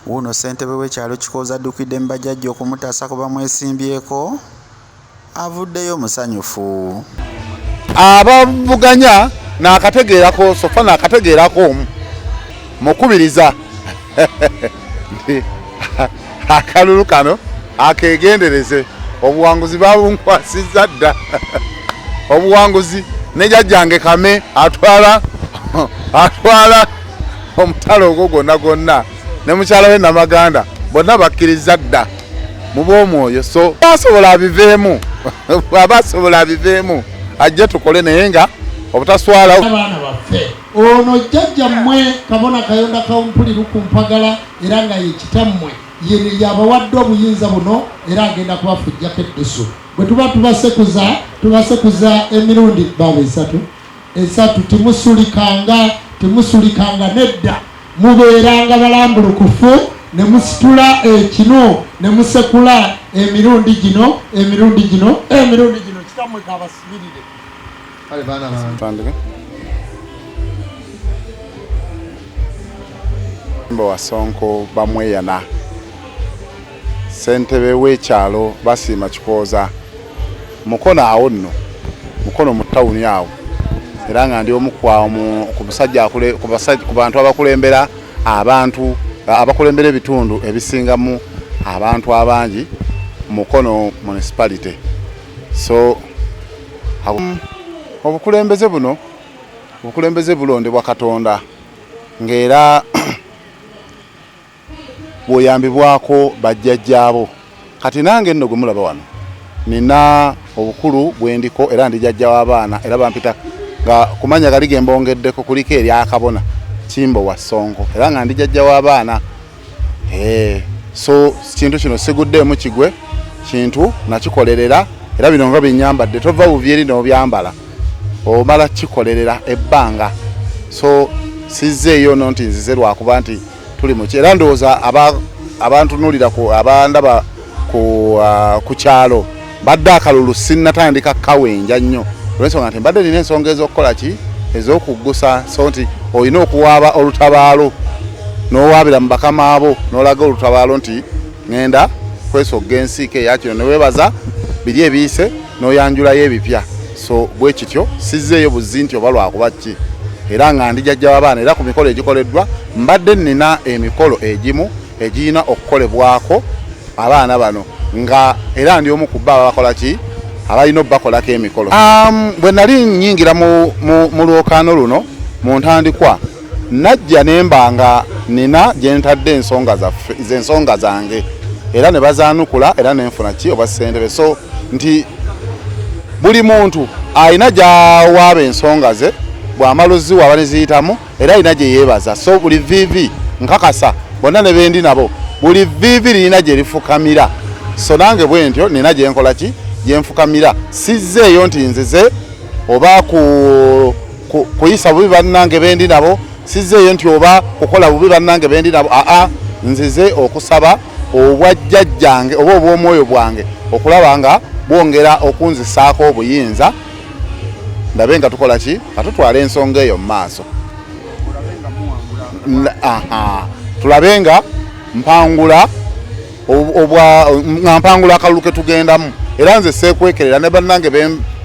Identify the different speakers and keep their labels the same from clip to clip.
Speaker 1: Wuuno ssentebe w'ekyalo Kikooza addukidde mu bajjajja okumutaasa ku bamwesimbyeko, avuddeyo musanyufu. Abavuganya
Speaker 2: naakategeerako sofa naakategeerako omu mukubiriza nti akalulu kano akegendereze obuwanguzi babunkwasiza dda obuwanguzi nejajjange kame atwala atwala omutalo ogwo gwonna gwonna ne mukyala we namaganda bonna bakkiriza dda mu bw'omwoyo so asobola abiveemu aba asobola abiveemu ajje tukole naye nga obutaswala abaana baffe
Speaker 3: ono jjajja mmwe kabona kayonda kawumpuli lukumpagala era nga yekitammwe yene yabawadde obuyinza buno era agenda kubafujjako eddusu bwe tuba tubasekuza tubasekuza emirundi baba esatu esatu temusulikanga temusulikanga nedda mubeeranga balambulukufu ne musitula ekinu ne musekula emirundi gino emirundi gino emirundi gino kitamwe kabasibirire
Speaker 2: kale baana bange wasonko bamweyana Ssentebe w'ekyalo Basiima Kikooza Mukono awo nno Mukono mu tawuni awo era nga ndi omu ku bantu abakulembera abantu abakulembera ebitundu ebisingamu abantu abangi Mukono municipality so obukulembeze buno obukulembeze bulondebwa Katonda ng'era bwoyambibwako bajjajjaabo kati nange nno gwe mulaba wano nina obukulu bwendiko era ndi jajja w'abaana era bampita nga kumanya gali ge mbongeddeko kuliko eryakabona kimbo wa sonko era nga ndi jajja w'abaana eh, so kintu kino siguddeemu kigwe kintu nakikolerera era bino nga byenyambadde tova buvyeri nobyambala omala kikolerera ebbanga so sizze eyo no nti nzize lwakuba nti tuli muki era ndowooza abantunulira abandaba uh, ku kyalo mbadde akalulu sinnatandika kawenja nnyo olwensonga nti mbadde nina ensonga ez'okukola ki ez'okuggusa so nti olina okuwaaba olutabaalo n'owaabira mu bakama abo n'olaga olutabaalo nti ŋŋenda kwesogga ensiike eya kino ne weebaza biri ebiyise n'oyanjulayo ebipya so bwe kityo sizzeeyo buzzi nti oba lwakuba ki era nga ndi jajja w'abaana era ku mikolo egikoleddwa mbadde nnina emikolo egimu egirina okukolebwako abaana bano nga era ndi omu ku bba ababakola ki abalina obubakolako emikolo um, bwe nali nnyingira mu lwokaano luno mu ntandikwa najja ne mba nga nina gye ntadde ensonga zaffe ze ensonga zange era ne bazaanukula era ne nfuna ki oba ssentebe so nti buli muntu alina gyawaaba ensonga ze bw'amala oziwa aba ne ziyitamu era alina gye yeebaza so buli viivi nkakasa bonna ne bendi nabo buli viivi lirina gye lifukamira so nange bwe ntyo nina gye nkola ki gye nfukamira sizzeeyo nti nzize oba ku kuyisa bubi bannange bendi nabo sizeeyo nti oba kukola bubi bannange bendi nabo aa nzize okusaba obwajjajjange oba obw'omwoyo bwange okulaba nga bwongera okunzisaako obuyinza ndabe nga tukola ki nga tutwala ensonga eyo mu maaso tulabe nga mpangula nga mpangula akalulu ke tugendamu era nze seekwekerera ne bannange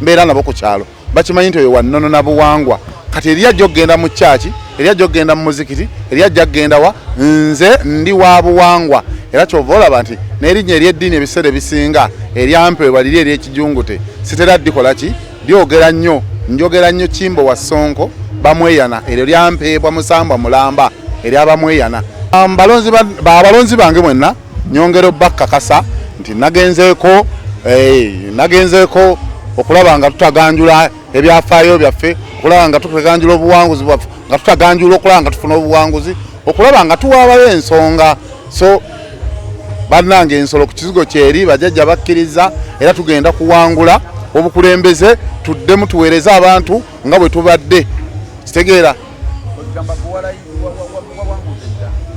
Speaker 2: mbeera nabo ku kyalo bakimanyi nti oyo wannono na buwangwa kati eri ajja okugenda mu kyaki eri ajja okugenda mu muzikiti eri ajja kugenda wa nze ndi wa buwangwa era kyova olaba nti n'erinnya ery'eddiini ebiseera ebisinga eryampeebwa liri ery'ekijungute sitera ddikola ki lyogera nnyo njogera nnyo kimbo wa sonko bamweyana eryo lyampeebwa musambwa mulamba eryabamweyana abalonzi bange mwenna Nyongera obbakakasa nti nagenzeeko eh, nagenzeeko okulaba nga tutaganjula ebyafaayo byaffe okulaba nga tutaganjula obuwanguzi bwaffe nga tutaganjula okulaba nga tufuna obuwanguzi okulaba nga tuwaabayo ensonga so bannanga ensolo ku kizigo kyeri bajajja bakkiriza era tugenda kuwangula obukulembeze tuddemu tuweereze abantu nga bwe tubadde kitegeera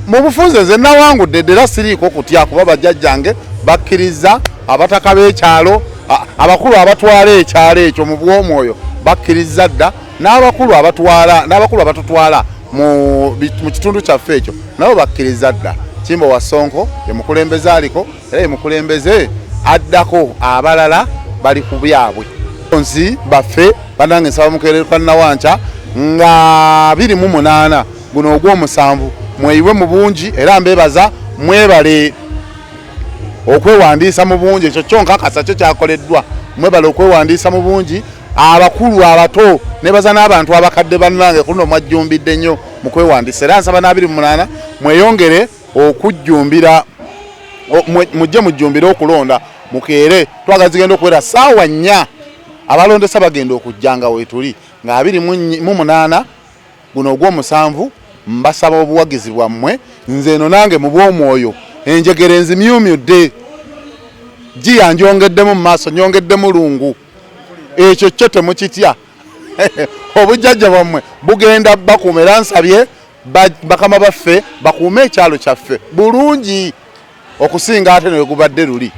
Speaker 2: mu bufunze nze nawangudde ddera siriiko kutya kuba bajjajjange bakkiriza abataka b'ekyalo abakulu abatwala ekyalo ekyo mu bw'omwoyo bakkiriza dda n'abakulu abatwala n'abakulu abatutwala mu kitundu kyaffe ekyo nabo bakkiriza dda kimbo wasonko emukulembeza aliko era mukulembeze addako abalala bali ku byabwe nsi baffe banange nsaba mukererwa nawanca nga biri mu munaana guno ogw'omusanvu mweyiwe mu bungi era mbebaza mwebale okwewandiisa mu bungi ekyo kyo nkakasa kyo kyakoleddwa mwebale okwewandiisa mu bungi abakulu abato nebaza n'abantu abakadde bannange kuno mwajjumbidde nnyo mu kwewandiisa era nsaba n'abiri mu munaana mweyongere okujjumbira mujje mujjumbire okulonda mukeere twagala zigenda okubeera saawa nnya abalondesa bagenda okujja nga weetuli nga abiri mu munaana guno ogw'omusanvu mbasaba obuwagizi bwammwe nze eno nange mu bw'omwoyo enjegere enzimyumyudde giya njyongeddemu mu maaso nyongeddemu lungu ekyo kyo temukitya obujjajja bwammwe bugenda bakuuma era nsabye bakama baffe bakuume ekyalo kyaffe bulungi okusinga ate newegubadde luli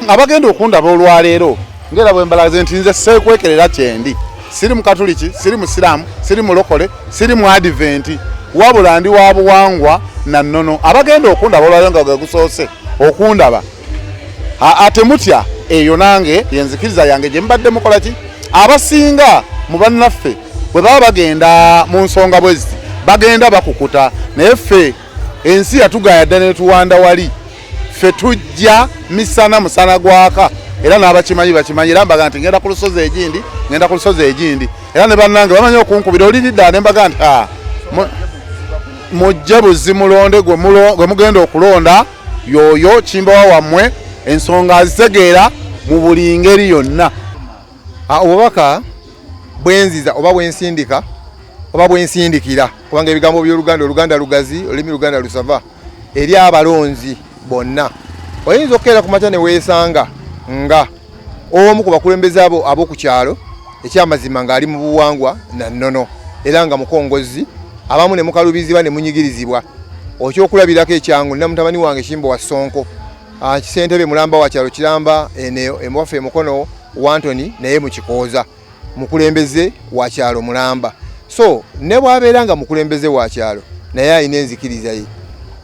Speaker 2: abagenda okundaba olwaleero ngaera bwembalaze nti nze seekwekerera kyendi siri mukatuliki siri musiraamu siri mulokole siri mu adiventi wabula ndi wa buwangwa na nnono abagenda okundaba olwaleero nga gwegusoose okundaba ate mutya eyo nange yenzikiriza yange gye mubadde mukola ki abasinga mu bannaffe bwe baba bagenda mu nsonga bwezi bagenda bakukuta naye ffe ensi yatugaya dda netuwanda wali ffe tujja misana musana gwaka era n'abakimanyi bakimanyi era mbaga nti ngenda ku lusozi egindi ngenda ku lusozi egindi era ne bannange bamanyi okunkubira oliridda ne mbaga nti ah, mujje buzi mulonde gwe mugenda okulonda yoyo kimbawa wammwe ensonga azitegeera mu buli ngeri yonna ah, obubaka
Speaker 4: bwenziza oba bwensindika oba bwensindikira kubanga ebigambo by'oluganda oluganda lugazi olulimi luganda lusava eri abalonzi bonna oyinza okukeera ku makya ne weesanga nga omu ku bakulembeze abo ab'oku kyalo ekyamazima ng'ali mu buwangwa na nnono era nga mukongozzi abamu ne mukalubizibwa ne munyigirizibwa okyokulabirako ekyangu nina mutabani wange kimbo wa sonko ah, kisentebe mulamba wa kyalo kiramba eno emuwaffe emukono wantoni naye mukikooza mukulembeze wa kyalo mulamba so ne bwabeera nga mukulembeze wa kyalo naye alina enzikiriza ye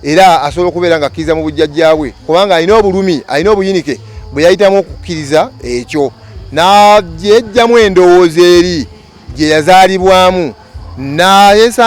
Speaker 4: era asobola okubeera nga akkiriza mu bujjajja bwe kubanga alina obulumi alina obuyinike bwe yayitamu okukkiriza ekyo nagyejjamu endowooza eri gye yazaalibwamu nayesa